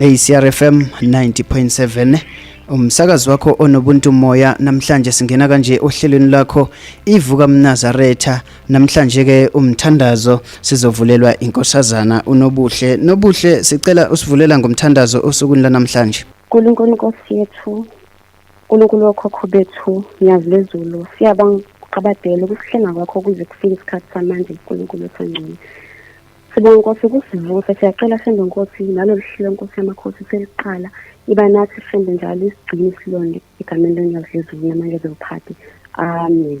ACRFM 90.7 umsakazi wakho onobuntu moya namhlanje singena kanje ohlelweni lakho ivuka mnazaretha namhlanje ke umthandazo sizovulelwa inkosazana unobuhle nobuhle sicela usivulela ngomthandazo osukwini lanamhlanje Nkulunkulu Nkosi yethu, Nkulunkulu wokhokho bethu, nyazi lezulu, siyabonga ukuqabadela ukuhlenga kwakho kuze kufike isikhathi samanje Nkulunkulu osangcwele. Sibonga Nkosi ukusivuse, siyacela Shembe Nkosi nalolu hlelo Nkosi yamakhosi seliqala, iba nathi Shembe njalo isigcine isilonde egameni lonyazi lezulu namanje zewuphathi. Amen.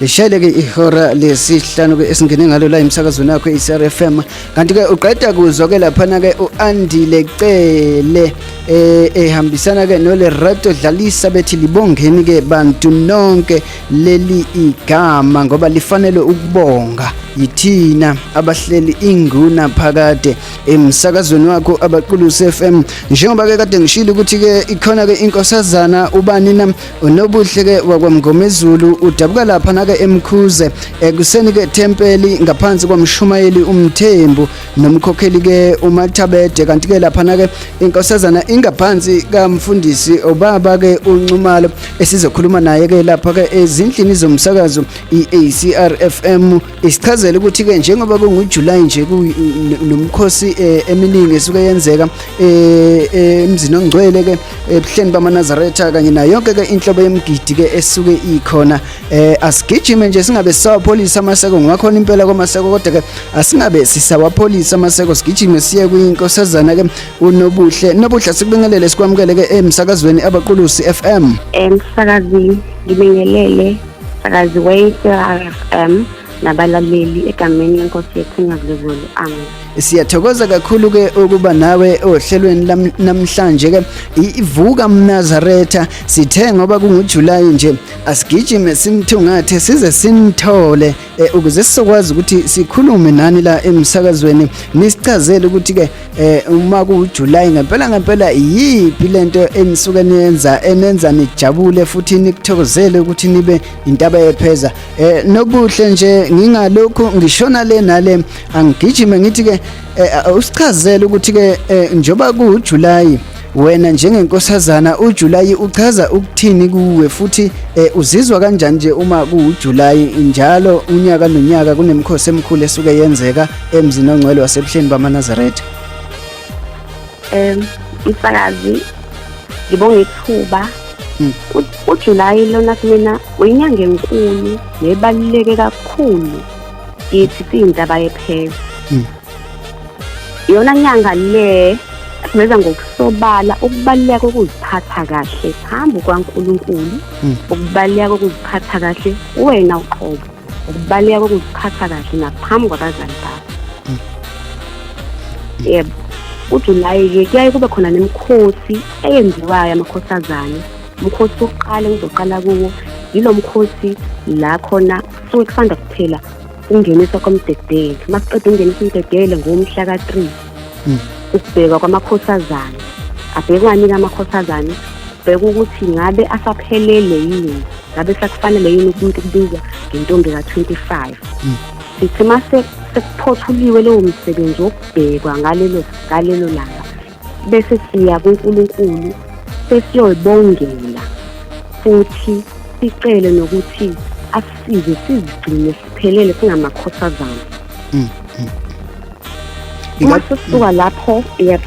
lishayile ke ihora lesihlanu ke esingene ngalo la emsakazweni yakho i-crfm kanti ke uqeda kuzwa ke laphana ke u-andile cele eh, ehambisana ke nolerato dlalisa bethi libongeni ke bantu nonke leli igama ngoba lifanele ukubonga yithina abahleli inguna phakade emsakazweni wakho abaqulusi FM njengoba ke kade ngishilo ukuthi ke ikhona ke inkosazana ubani na unobuhle-ke wakwamngomezulu udabuka lapha nake emkhuze ekuseni-ke thempeli ngaphansi kwamshumayeli umthembu nomkhokheli-ke umathabede kanti-ke laphana-ke inkosazana ingaphansi kamfundisi ubaba-ke unxumalo esizokhuluma naye-ke lapha-ke ezindlini zomsakazo i-acrfm isichazela ukuthi-ke njengoba kungujulayi nje nomkhosi um eh, eminingi esuke yenzeka eh, eh, emzini ongcwele-ke ebuhleni bamanazaretha kanye nayo yonke-ke inhlobo yemgidi-ke esuke ikhona um asigijime nje singabe sisawapholisa amaseko ngoba khona impela kwamaseko kodwa-ke asingabe sisawapholisa amaseko sigijime siye kwinkosazana-ke unobuhle nobuhle sikubingelele sikwamukele-ke emsakazweni abaqulusi f m emsakazini ngibingelele akazi we-CRFM nabalaleli egameni lenkosi yethu nyakulezulu amen siyathokoza kakhulu ke ukuba nawe ohlelweni namhlanje ke ivuka mnazaretha sithe ngoba kungujulayi nje asigijime simthungathe size simthole eh, ukuze sizokwazi ukuthi sikhulume nani la emsakazweni nisichazele ukuthi ke eh, uma kuJuly ngempela ngempela yiphi lento enisuke niyenza enenza nijabule futhi nikuthokozele ukuthi nibe intaba yepheza eh, nobuhle nje ngingalokhu ngishona le nale angigijime ngithi ke eh, usichazele ukuthi ke eh, njoba kuJuly Wena njengenkosazana uJulayi uchaza ukuthini kuwe futhi eh, uzizwa kanjani nje uma kuwuJulayi njalo unyaka nonyaka kunemikhosi emikhulu esuke yenzeka emzini ongcwele wasebuhleni bamaNazaretha? Em umsakazi ngibonga ithuba Mm. U- uJulayi lona kumina uyinyanga enkulu nebaluleke kakhulu kithi siyintaba yephela Mm. yona nyanga le siveza ngokusobala ukubaluleka kokuziphatha kahle phambi kwaNkulunkulu hmm. ukubaluleka kokuziphatha kahle wena uqobo ukubaluleka kokuziphatha kahle naphambi kwabazali bakho hmm. yebo uJulayi-ke kuyaye kube khona nemikhosi eyenziwayo amakhosazane umkhosi wokuqala engizoqala kuwo yilo mkhosi la khona suke kusanda kuphela ukungeniswa komdedeli masiqeda ukungenisa umdedeli ngomhla ka-3 hmm. ukubhekwa kwamakhosazana abhekwanika amakhosazana bheka ukuthi ngabe asaphelele yini ngabe sakufanele yini umuntu ukubizwa ngentombi ka-25 hmm. sithi uma sekuphothulyiwe lowo msebenzi wokubhekwa ngalelo langa bese siya kuNkulunkulu sesiyoybongela futhi sicele nokuthi asisize sizigcine siphelele singamakhosazana mm, mm. uma sisuka lapho yep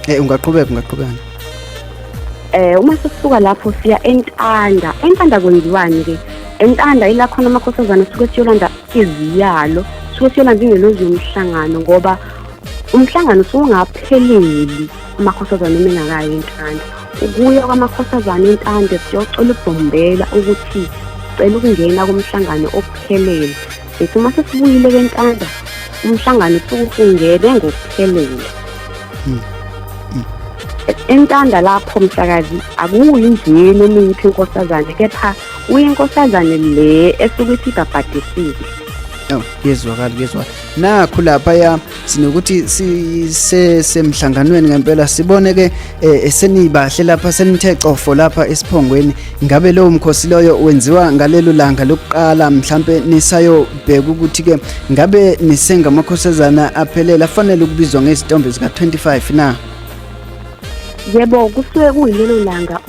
eh ungaqhubeka ungaqhubeka eh uma sisuka lapho siya entanda entanda kwenziwani ke entanda ila khona amakhosazana suke siyolanda iziyalo suke siyolanda ingelozi yomhlangano ngoba umhlangano usungapheleli amakhosazane uma engakayo intanda ukuya kwamakhosazane intanda siyocela ubhombela ukuthi sicela ukungena kumhlangano okuphelele bethi uma sesibuyile kentanda umhlangano usukuhungele ngokuphelele hmm. hmm. entanda lapho msakazi akuyi nje noma iyiphi inkosazane kepha uyinkosazane le esuke ithi ibhabhadisile yezwakala kuyezwakala nakhu laphaya sinokuthi sisemhlanganweni ngempela sibone ke eh, senibahle lapha senithe cofo lapha esiphongweni ngabe lowo mkhosi loyo wenziwa ngalelo langa lokuqala mhlambe nisayobheka ukuthi ke ngabe nisengamakhosazana aphelela afanele ukubizwa ngezitombe zika 25 na yebo kusuke kuyilelo langa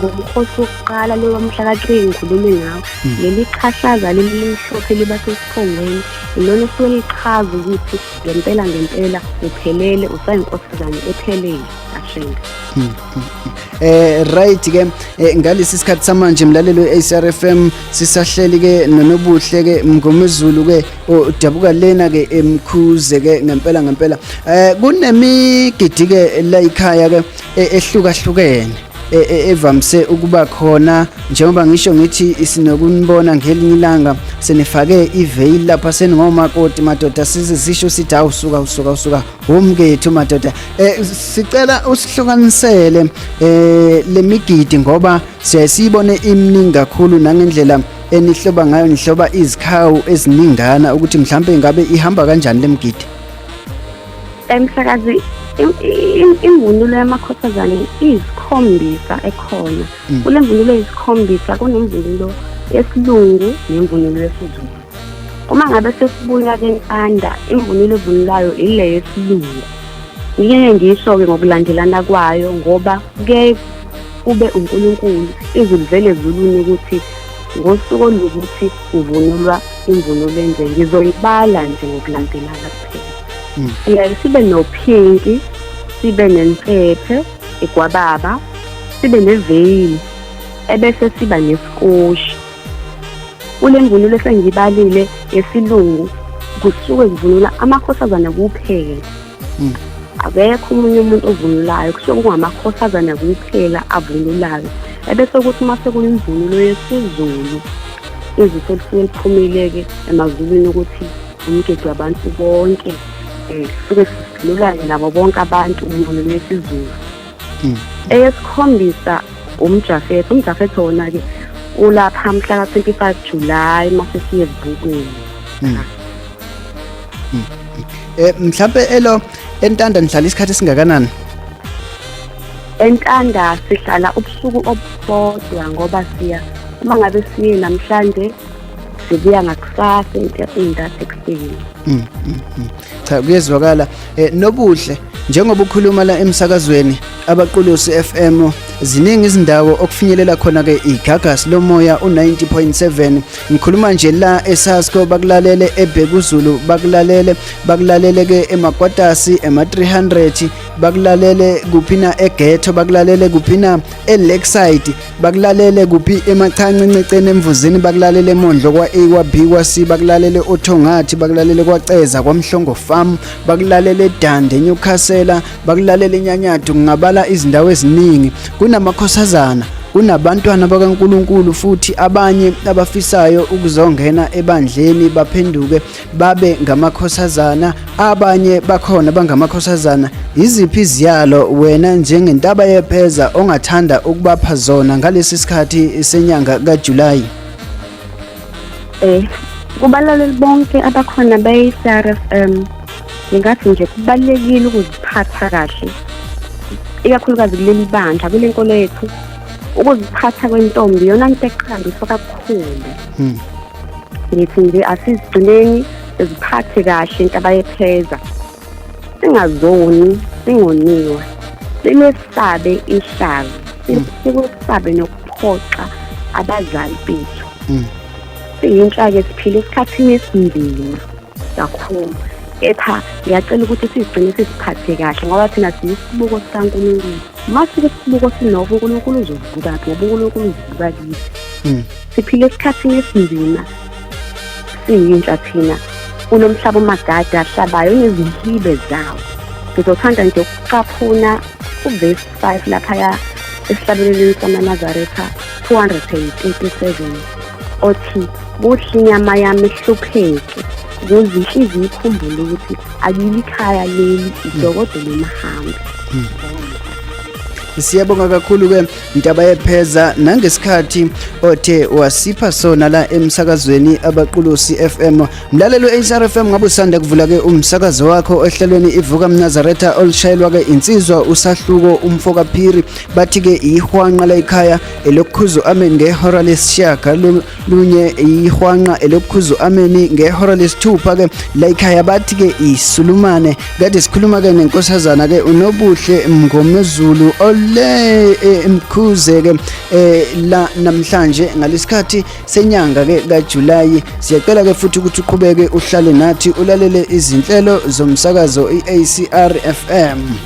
ngomkhosi wokuqala lowa mhla ka-three ngikhulume ngawo hmm. leli qhahlaza lelilimhlophe liba sesiphongweni ilona suke lichaza ukuthi ngempela ngempela uphelele usayinkosazane ephelele ashenga hmm, hmm, eh right ke eh, ngalesi sikhathi samanje mlalelo we-ACRFM sisahleli ke nonobuhle ke mngomezulu ke udabuka lena ke emkhuze ke ngempela ngempela eh kunemigidi ke la ikhaya ke e, ehlukahlukene e, e, evamise ukuba khona njengoba ngisho ngithi isinokunibona ngelinye ilanga senifake iveil lapha seningomakoti madoda sizisho sithi awusuka usuka usuka womkethu madoda eh sicela usihlukanisele eh lemigidi ngoba siyayibone imningi kakhulu nangendlela enihloba ngayo nihloba izikhawu eziningana ukuthi mhlawumbe ingabe ihamba kanjani le mgidi emsakazi imvunulo yamakhothazane izikhombisa ekhona mm. kule mvunulo izikhombisa kunemvunulo yesilungu nemvunulo yesizulu uma ngabe sesibuya kentanda imvunulo evunulayo ile yesilungu ngike ngisho-ke ngokulandelana kwayo ngoba kuyaye ube uNkulunkulu izulu vele zulwini ukuthi ngosuku olukuthi kuvunulwa imvunulo enje ngizoyibala nje ngokulandelana kuphela mm. siyaye sibe nophinki sibe nensephe igwababa sibe neveyili ebese siba nesikoshi kule mvunulo esengiyibalile yesilungu kusuke kuvunula amakhosazana kuphela mm. akekho omunye umuntu ovunulayo kusho kungamakhosazana kuphela avunulayo ebese ukuthi uma sekuyimvunulo yesizulu izifo lisuke liphumile-ke emazulwini ukuthi umgedi wabantu bonke um suke sivunulayo nabo bonke abantu imvunulo yesizulu mm. eyesikhombisa umjafetho umjafetho wona-ke ulapha mhla ka-25 july masesiye ezibukweni mm. mm. eh, mhlawumpe elo entanda nihlala isikhathi esingakanani entanda sihlala ubusuku obubodwa ngoba siya uma ngabe siye namhlanje sibuya ngakusasa into ekuseni mm, mm, mm. cha kuyezwakala eh, nobuhle njengoba ukhuluma la emsakazweni abaqulusi FM ziningi izindawo okufinyelela khona ke igagas lomoya u90.7 ngikhuluma nje la eSasco bakulalele eBhekuzulu bakulalele bakulalele ke eMagwatasi ema 300 bakulalele kuphina eGhetto bakulalele kuphina eLakeside bakulalele kuphi emachanci nceceni emvuzini bakulalele emondlo kwa-a kwa-b kwa-c bakulalele othongathi bakulalele kwaceza kwamhlongo farm bakulalele edande enyukhasela bakulalele enyanyadu ngingabala izindawo eziningi kunamakhosazana kunabantwana bakaNkuluNkulu futhi abanye abafisayo ukuzongena ebandleni baphenduke babe ngamakhosazana abanye bakhona bangamakhosazana yiziphi iziyalo wena njengentaba yepheza ongathanda ukubapha zona ngalesi sikhathi senyanga kaJulayi eh kubalaleli bonke abakhona beyi-CRFM ngingathi nje kubalulekile ukuziphatha kahle ikakhulukazi kuleli bandla kule nkolo yethu ukuziphatha kwentombi yona nto eqhambiswa kakhulu hmm. ngithi nje asizigcineni ziphathe kahle into abayepheza singazoni singoniwe simesabe ihlazo mm. sikwesabe nokuphoxa abazali bethu mm. siyinhlake siphile esikhathini esinzima kakhulu kepha ngiyacela ukuthi sizigcine siziphathe kahle ngoba thina siyisibuko sikankulunkulu uma sike sibuko sinoko unkulunkulu uzovuka ngoba unkulunkulu uzivuka kithi mm. Siphila esikhathini esinzima. Siyintsha thina. Kunomhlaba omagada ahlabayo nezihibe zawo. Ngizothanda nje ukucaphuna uverse 5 laphaya esihlabeleleni samaNazaretha 287 othi kuhle inyama yami ihlupheke kuze inhliziyo ikhumbule ukuthi akili ikhaya leli idokodo lomhambi hmm. siyabonga kakhulu-ke Ntaba yepheza nangesikhathi othe wasipha sona la emsakazweni abaqulusi FM mlalelo HR FM ngabe usanda kuvula ke umsakazo wakho ohlelweni ivuka mnazaretha olishayelwa ke insizwa usahluko umfoka phiri bathi ke ihwanqa la ekhaya elokhuzo amen ngehora lesishaka lunye ihwanqa elokukhuza u-ameni ngehora lesithupha-ke la ikhaya bathi-ke isulumane kade sikhuluma-ke nenkosazana-ke unobuhle mngomezulu ole eh, mkhuze-ke um eh, la namhlanje ngalesikhathi senyanga-ke kajulayi siyacela-ke futhi ukuthi uqhubeke uhlale nathi ulalele izinhlelo zomsakazo i-acr f m